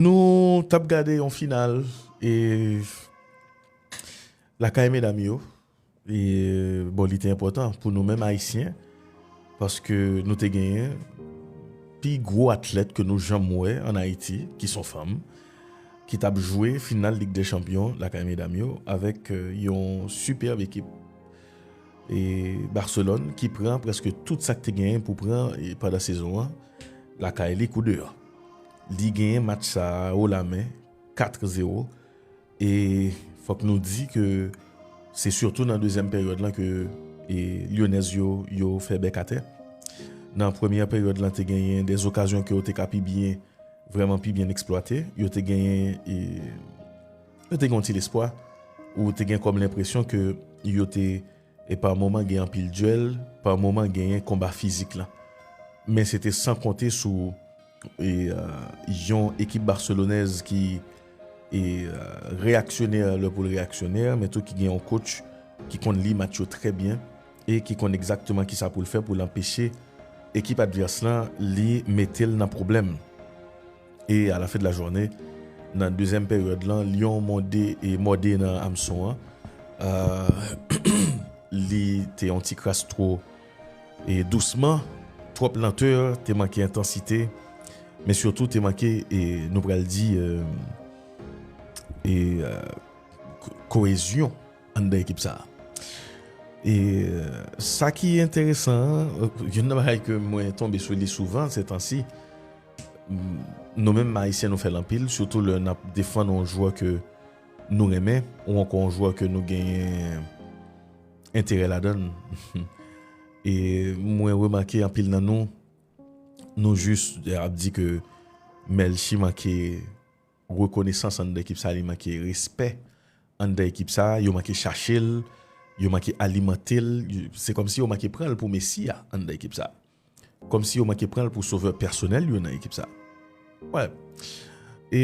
Nou tap gade yon final e lakay medam yo e bon li te enpòtan pou nou menm ayisyen paske nou te genyen pi gwo atlèt ke nou janm wè an Ayiti ki son fanm ki tap jwe final lig dè chanpyon lakay medam yo avèk yon sipèb ekip e Barcelone ki pran prèske tout sak te genyen pou pran pandan sezon an lakay li kou deyò. li genyen match sa a wo la men 4 zero e fòk nou di ke se sitou nan dezyèm peryòd lan ke lyonèz yo yo fè bèk atè nan premyè peryòd lan te genyen de zokazyon ke yo te ka pi byen vreman pi byen eksplwate yo te genyen e yo te gen yon ti lespwa ou te gen kòm lenpresyon ke yo te yo te E pa moman gen anpil duel, pa moman genyen konba fizik lan. Men se te san konte sou yon ekip Barcelonèz ki reyaksyonè lè pou l reyaksyonè, men tou ki gen yon coach ki konn li match yo trè byen e ki konn egzakteman ki sa pou l fè pou l anpeche ekip advès lan li mete l nan pwoblèm. E a la fen de la jounen, nan dezyèm peryòd lan, Lyon mòde e mòde nan amson an. Li te yon ti kras twò e dousman, twòp lantè, te manke entansite, men sitou te manke e nou pral di e koezyon anndan ekip sa a. E sa ki enteresan, youn nan bagay ke mwen tonbe sou li souvan setansi, Nou menm Ayisyen nou fè l anpil, sitou lè n ap defann yon jwè ke nou renmen ou ankò yon jwè ke nou genyen enterè ladan l. E mwen remake anpil nan nou, nou jis ap di ke Melchie manke rekonesans anndan ekip sa, li manke respè anndan ekip sa, yo manke chache l, yo manke alimante l, se kòmsi yo manke pran l pou mesi a anndan ekip sa a. Kòmsi yo manke pran l pou sovè pèsonèl yo nan ekip sa. Wè. E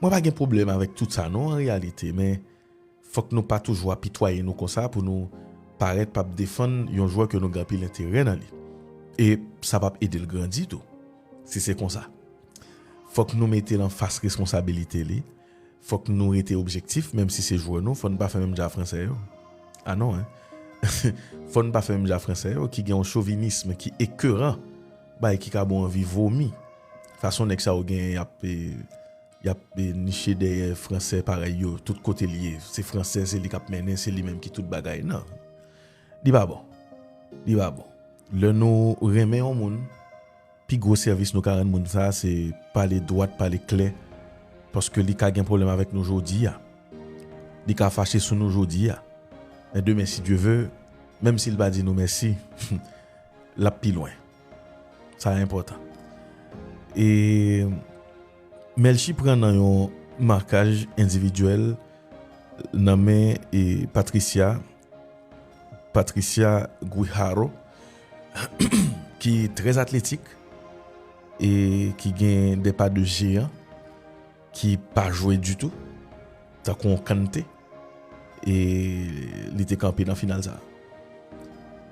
Mwen pa gen pwoblèm avèk tout sa non an reyalite men fòk nou pa toujou apitwaye nou konsa pou nou parèt pap defann yon jwè ke nou gen anpil enterè nan li. E sa pap ede l grandi tou. Si se konsa. Fòk nou mete l anfas reskonsabilite li. Fòk nou rete objektif menm si se jwè nou, fò n pa fè menm jan a fransè yo. Ah non hein! Fò n pa fè menm jan a fransè yo ki gen yon chovinism ki ekeran, bagay ki ka ba w anvi vomi. Fason nèg sa yo genyen y ap y ap niche dèyè fransè parèy yo tout kote l ye, se fransè se li k ap mennen, se li menm ki tout bagay. Non! Li pa bon. Li pa bon. Lè nou renmen yon moun. Pi gwo sèvis nou ka rann moun sa a se pale dwat, pale klè, paske li ka gen pwoblèm avèk nou jodi a, li ka fache sou nou jodi a, men demen si Dye ve, menm si l pa di nou mèsi, l ap pi lwen. Sa a enpòtan. E Melchie pran nan yon makaj endividyèl nan men Patricia. Patricia Guijarro ki trè atletik e ki gen de pa de jeyan ki pa jwe ditou tankou yon kante e li te kanpe nan final sa.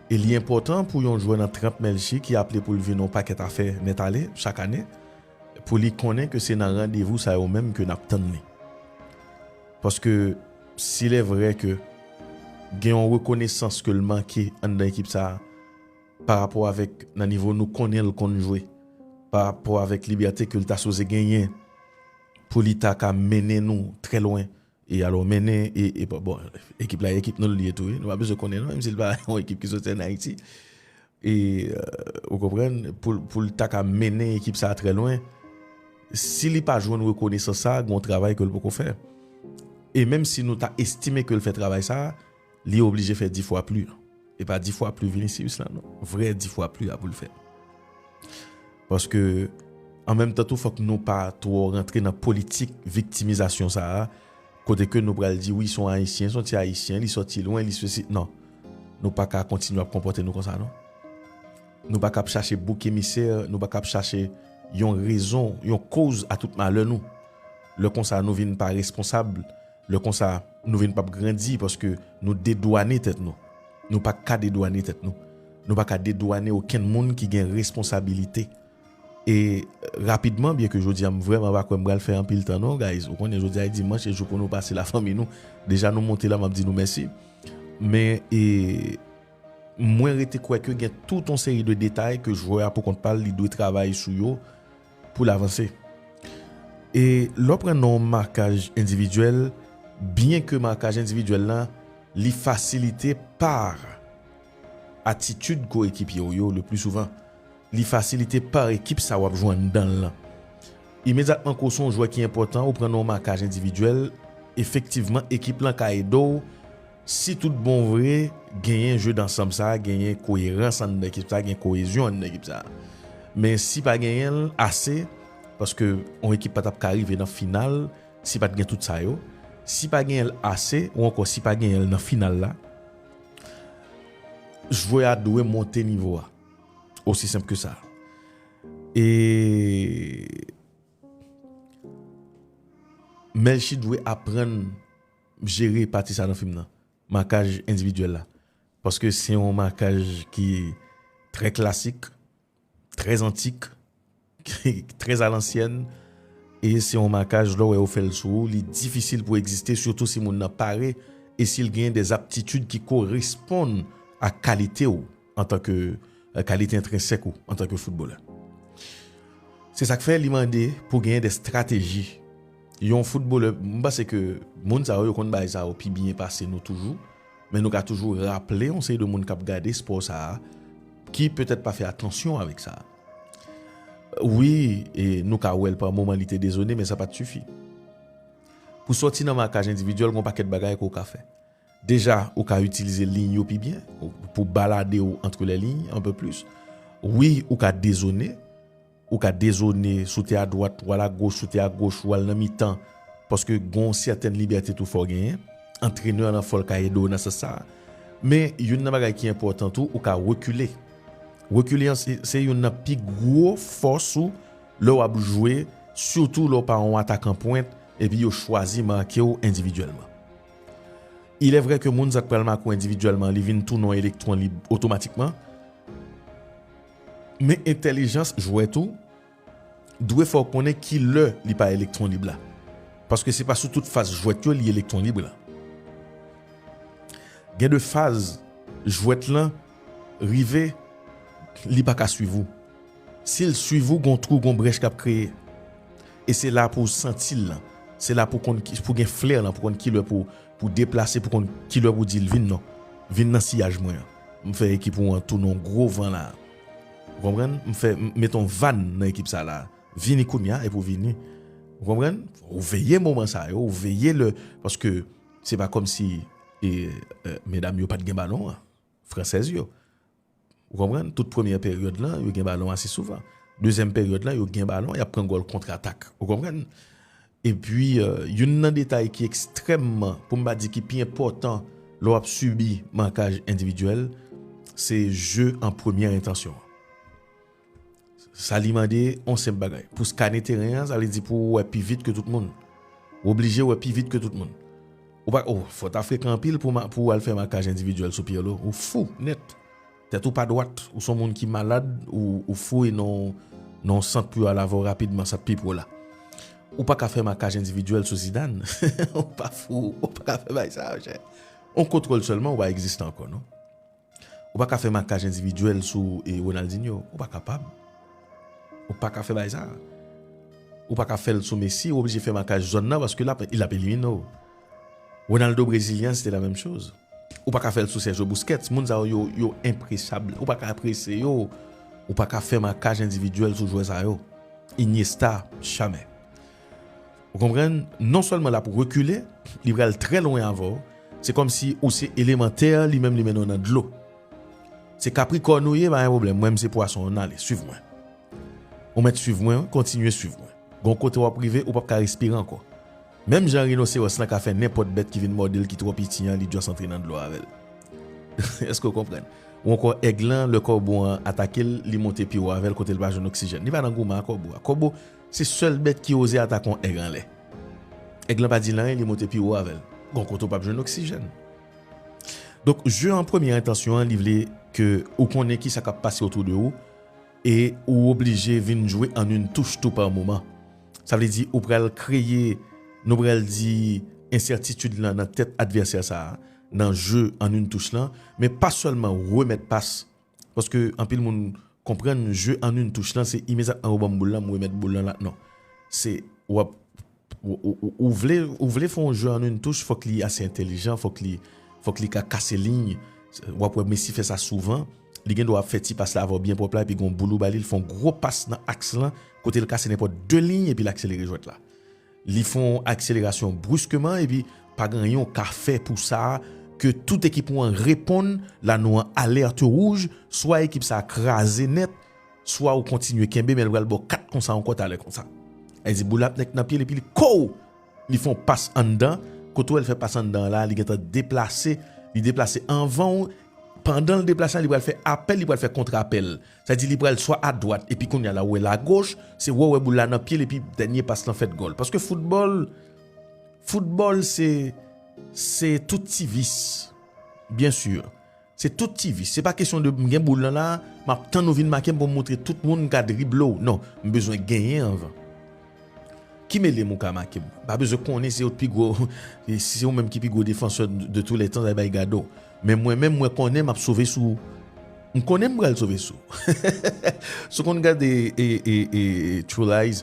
E li enpòtan pou yon jwè nan tranp Melchie ki aple pou l vin yon pakèt afè nèt ale chak ane pou li konnen ke se nan randevou sa yo menm ke n ap tann li. Paske si lè vrè ke gen yon rekonesans ke l manke anndan ekip sa a, pa rapò avèk nan nivo nou konnen l konn jwe, pa rapò avèk libète ke l ta sipoze genyen pou li ta ka mennen nou trè lwen, e alò mennen e bon ekip la ekip nou l ye tou wi, nou pa bezwen konnen non, menm si l pa yon ekip ki soti ann Ayiti. E, ou konprann, pou l ta ka mennen ekip sa a trè lwen, si li pa jwenn rekonesans sa a, gen yon travay ke l poko fè. E menm si nou ta estime ke l fè travay sa a, li oblije fè di fwa pli. E pa di fwa pli Vinicius la non. Vrè di fwa pli a pou l fè. Paske, an menm tan tou fòk nou pa twò rantre nan politik viktimizasyon sa a, kote ke nou pral di wi son Ayisyen, son ti Ayisyen, li sòti lwen, li sesi, non. Nou pa ka kontinye ap konpòte nou konsa non. Nou pa ka ap chache bouk emisè, nou pa ka ap chache yon rezon, yon koz a tout malè nou. Lè konsa nou vin pa responsab, lè konsa nou vin pap grandi paske nou dedwane tèt nou. Nou pa ka dedwane tèt nou. Nou pa ka dedwane okenn moun ki gen responsabilite. E rapidman, byenke jodi a m vrèman pa kwè m pral fè anpil tan non guys, ou konnen jodi a e dimanch e jou pou nou pase lafanmi nou, deja nou monte la m ap di nou mèsi. Men e mwen rete kwè ke gen tout yon seri de detay ke jwè a pou kont pa l li dwe travay sou yo pou l avanse. E lè w pran nan yon makaj endividyèl, byenke makaj endividyèl la li fasilite par. Atitid koyekipye w yo leplisouvan li fasilite pa ekip sa w ap jwe anndan l lan. Imedyatman ke w se yon jwè ki enpòtan ou pran nan yon makaj endividyèl, efektivman ekip lan ka ede w si tout bon vre genyen jeu d'ensemble sa a, genyen koyerans anndan ekip sa a, gen koyezyon anndan ekip sa a. Men si pa genyen l ase, paske yon ekip pa t ap ka rive nan final si pa t gen tout sa yo, si pa genyen l ase ou ankò si pa genyen l nan final la, Jwè a dwe monte nivo a. Osi senp ke sa. E Melchie dwe aprann jere pati sa nan fim nan. Makaj endividyèl la. Paske se yon makaj ki trè klasik. Très antique, très à l'ancienne e se yon makaj lè w wè yo fè l sou ou li difisil pou egziste sitou si moun nan pare e si l genyen des aptitudes ki koresponn ak kalite w antanke kalite entrensèk ou antanke footballè. Se sa k fè li mande pou genyen des strateji yon footballè m panse ke moun sa yo yo konn bagay sa yo pi byen pase nou toujou Men nou ka toujou raple yon seri de moun k ap gade spò sa a ki petèt pa fè atansyon avèk sa. Wi, e nou ka wè l pa moman li te dezone men sa pa t sifi. Pou sòti nan makaj endividyèl gen yon pakèt bagay ke w ka fè. Deja, ou ka itilize liy yo pi byen pou balade w antre lè liy anpe plis. Wi, ou ka dezone. Ou ka dezone, sote a dwat, wal a goch, sote a goch, wal nan mitan. Paske gon sètèn libète tou fè w genyen. Antrenè lan fò l ka ede w nan sans sa. Men youn nan bagay ki enpòtan tou, ou ka rekile. Rekile an se youn nan pi gwo fòs ou lè w ap jwe, sitou lè w pa yon atakan pwent epi yo chwazi make w endividyèlman. Ilè vrè ke moun sa k pral make w endividyèlman li vin tou non elektwon lib otomatikman. Men entèlijans jwè tou dwe fè w konnen ki lè li pa elektwon lib la. Paske se pa sou tout faz jwèt yo li elektwon lib la. Gen de faz jwèt lan rive li pa ka swiv ou. Si l swiv ou gon twou gon brèch k ap kreye. E se la pou w santi l lan. Se la pou w konn pou w gen flè lan pou w konn ki lè pou w deplase pou w konn ki lè pou w di l vin non. Vin nan siyaj mwen an. M fè ekip ou an tou non gwo van la. Ou konprann? M fè, m met on van nan ekip sa la. Vini kounye a epi w vini. Ou konprann? Ou veye moman sa yo, ou veye lè, paske se pa kòm si e medam yo pa t gen balon an, fransèz yo. Ou konprann? Tout premyè peryòd lan, yo gen balon ase souvan. Dezyèm peryòd lan, yo gen balon, y ap pran gòl kontratak. Ou konprann? Epi, youn nan detay ki ekstrèmman, pou m pa di ki pi enpòtan lè w ap sibi makaj endividyèl, se je an premyè entansyon an. Sa li mande, yon senp bagay. Pou skane teren an, sa vle di pou ou wè pi vit ke tout moun. Ou oblije wè pi vit ke tout moun. Ou pa, o, fò w ta frekan anpil pou w al fè makaj endividyèl sou Pierre Lô. Ou fou nèt. Tèt ou pa dwat, ou son moun ki malad, ou foure nan yon sant pou yo al avè w rapidman, sa t pi pou w la. Ou pa ka fè makaj endividyèl sou Zidane, ou pa fou, ou pa ka fè bagay sa yo chè. Yon kontwòl sèlman ou pa egziste ankò non. Ou pa ka fè makaj endividyèl sou Ronaldinho, ou pa kapab. Ou pa ka fè bagay sa. Ou pa ka fè l sou Messi, ou oblije fè makaj zòn nan paske l ap elimine w. Ronaldo brezilyen se te la menm choz. Ou paka fèl sou Sergio Busquets, moun sa yo yo yo enpresab, ou paka prese yo, ou paka fè makaj endividyèl sou jwè sa yo. Iniesta, jamè. Ou konprann, non sèlman lap rekile, li pral trè lwen avèw, se kòmsi ou se eleman tè, li menm li mennen w nan dlo. Se Capricorne ou ye, pa gen pwoblèm, mwen m se Pwason, ann ale, swiv mwen. Ou mèt swiv mwen wi, kontinye swiv mwen. Gon kote wap rive, ou pap ka respire ankò. Menm jan rinosewòs lan ka fè nenpòt bèt ki vin mòde l ki twò piti an li just antre nan dlo avè l. Èske w konprann? Ou ankò èg lan lè kòbo an atake l li monte pi wo avè l kote l pa jwenn oksijèn. Li pa nan goumen a kòbo a. Kòbo se sèl bèt ki oze atake yon èg anlè. Èg lan pa di l anyen li monte pi wo avè l. Gon kote ou p ap jwenn oksijèn. Donk je an premye entansyon an li vle ke ou konnen kisa k ap pase otou de ou. E ou oblije vin jwe an yn touch tou par moman. Sa vle di ou pral kreye, nou pral di, ensètitid lan nan tèt advèsè sa a nan jeu an yn touch lan, men pa sèlman remèt pas, paske anpil moun konprann jeu an yn touch lan se imedyatman ou banm boul lan m remèt boul lan la non. Se wap. Ou vle ou vle fè yon jwè an yn touch fòk li ase entèlijan fòk li fòk li ka kase liy wap wè Messi fè sa souvan li gen dwa ap fè ti pas la avèw byen pwòp la epi gon boul ou ba li li fè yon gwo pas nan aks lan kote li kase nenpòt 2 liy epi li akselere jwèt la li fè yon akselerasyon bruskeman epi pa gen anyen ou ka fè pou sa ke tout ekip ou an reponn la nou an alerte rouj swa ekip sa kraze nèt Swa ou kontinye kenbe men li pral baw 4 konsa ankò talè konsa. Li di boul ap nèk nan pyel epi li kouw! Li fè yon pas anndan, kote ou wèl fè pas anndan la li gentan deplase, li deplase anvanw, pandanl deplase la li pral fè apèl li pral fè kontra apèl. Sa di li pral swa adwat epi kounya la ou wèl agoch, se wè ou wè boul la nan pyel epi dènye pas lan fèt gòl. Paske foutbòl, foutbòl se se tout ti vis. Byen sur. Se tout ti vis. Se pa kesyon de m gen boul lan la, m ap tann ou vin make m pou m montre tout moun m ka drible w. Non, m bezwen genyen anvan. Ki mele m ou ka make m? M pa bezwen konnen se ou t pi gwo, si se ou menm ki pi gwo defansè de tou lè tan sa bay gade w. Men mwen menm mwen konnen m ap sove sou ou. M konnen m pral sove sou ou. Si w konn gade True Lies,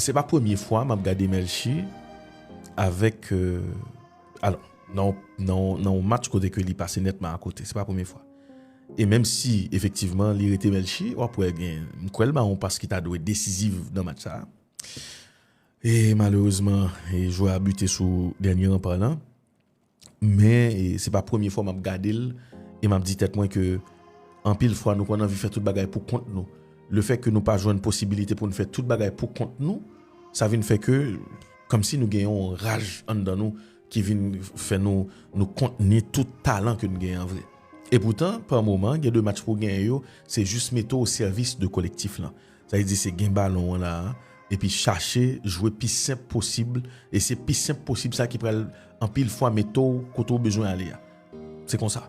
Se pa premye fwa map gade Melchi avèk alò nan yon match kote ke li pase nètman a kote, se pa premye fwa. E menm si efektivman li rete Melchi, wap wè gen, m kwè l ba yon pas ki ta dwe desiziv nan match sa. E malerezman jwè a bute sou dènye ranpa lan. Men se pa premye fwa map gadel e map di tèt mwen ke anpil fwa nou konn anvi fè tout bagay pou kont nou. Le fè ke nou pa jwenn posibilite pou nou fè tout bagay pou kont nou, sa vin fè ke kom si nou gen yon raj anndan nou ki vin fè nou nou kontni tout talan ke nou gen an vre. E poutan, pa moman, gen de match pou genyen yo, se jis mete w o sèvis de kolektif lan. Sa vle di se gen balon an la a epi chache jwe pi senp posib e se pi senp posib sa ki pral anpil fwa mete w kote w bezwen ale a. Se konsa.